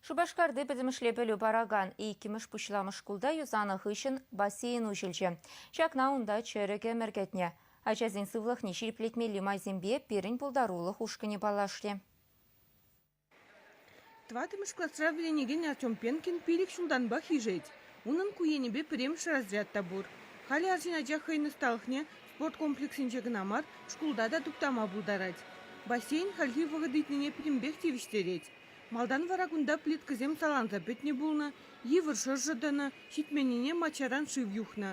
Шупашкарти пӗтӗмӗшле пӗлӳ паракан иккӗмӗш пуҫламӑш шкулта юсанӑ хыҫҫӑн бассейн уҫӑлчӗ. Ҫакна унта чӗрӗк ӗмӗр кӗтнӗ. Ачасен сывлӑхне ҫирӗплетмелли майсемпе пирӗн пултарулӑх ушкӑнӗ паллашрӗ. Тӑваттӑмӗш класра вӗренекен Артем Пенкин пилӗк ҫултанпах ишет. Унӑн ку енӗпе пӗрремӗш разряд та пур. Халӗ арҫын ача хӑйӗн ӑсталӑхне спорт комплексӗнче кӑна мар, шкулта та туптама пултарать. Бассейн хальхи вӑхӑт ыйтнине пӗтӗмпех тивӗҫтерет. Малтан вара кунта плиткӑсем саланса пӗтнӗ пулнӑ, йывӑр шӑршӑ тӑнӑ, ҫитменнине маччаран шыв юхнӑ.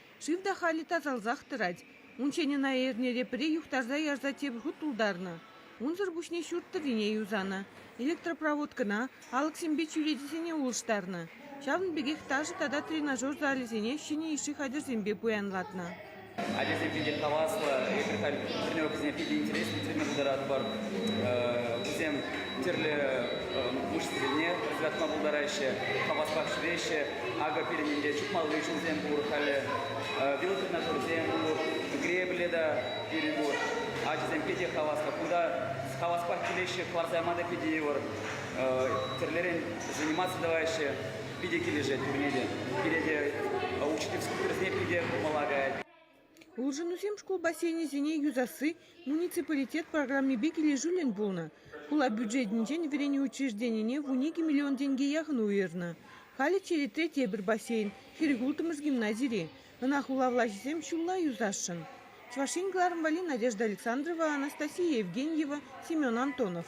Шыв та халӗ тасалсах тӑрать. Унччен ӑна эрнере пӗре юхтарса ярса тепӗр хут тултарнӑ. Унсӑр пуҫне ҫурт тӑррине юсанӑ. Электропроводкӑна, алӑксемпе чӳречесене улӑштарнӑ. Ҫавӑн пекех ташӑ тата тренажер залӗсене ҫӗнӗ йышши хатӗрсемпе пуянлатнӑ. Ачасемшӗн те хаваслӑ. Эпир халь ҫӗнӗ ӑвӑсене питӗ интереслӗ тӳреме пултаратпӑр. Вӗсем тӗрлӗ мышц вилне пӑсӑлятма пултараҫҫӗ, хаваспах ҫӳреҫҫӗ. Акӑ пирӗн инке чупмалли ҫулсем пур халӗ. Велотренажерсем пур, гребле та пирӗн пур. Ачасем питӗ хаваслӑ. Кунта хаваспах килеҫҫӗ, кӑларса яма та питӗ йывӑр. Тӗрлӗрен заниматься тӑваҫҫӗ. Питӗ килӗшет пурне те. Пире те учительски уйрӑхне питӗ курмалла каять. Улшӑнусем шкул бассейнӗсене юсасси муниципалитет программипе килӗшӳллӗн пулнӑ. Хула бюджетӗнчен вӗренӳ учрежденине вун икӗ миллион тенке яхӑн уйӑрнӑ. Халӗ черетре тепӗр бассейн хӗрӗх улттӑмӗш гимназире. Ӑна хула влаҫӗсем ҫулла юсасшӑн. Чӑваш Ен кӑларӑм валли Надежда Александрова, Анастасия Евгеньева, Семен Антонов.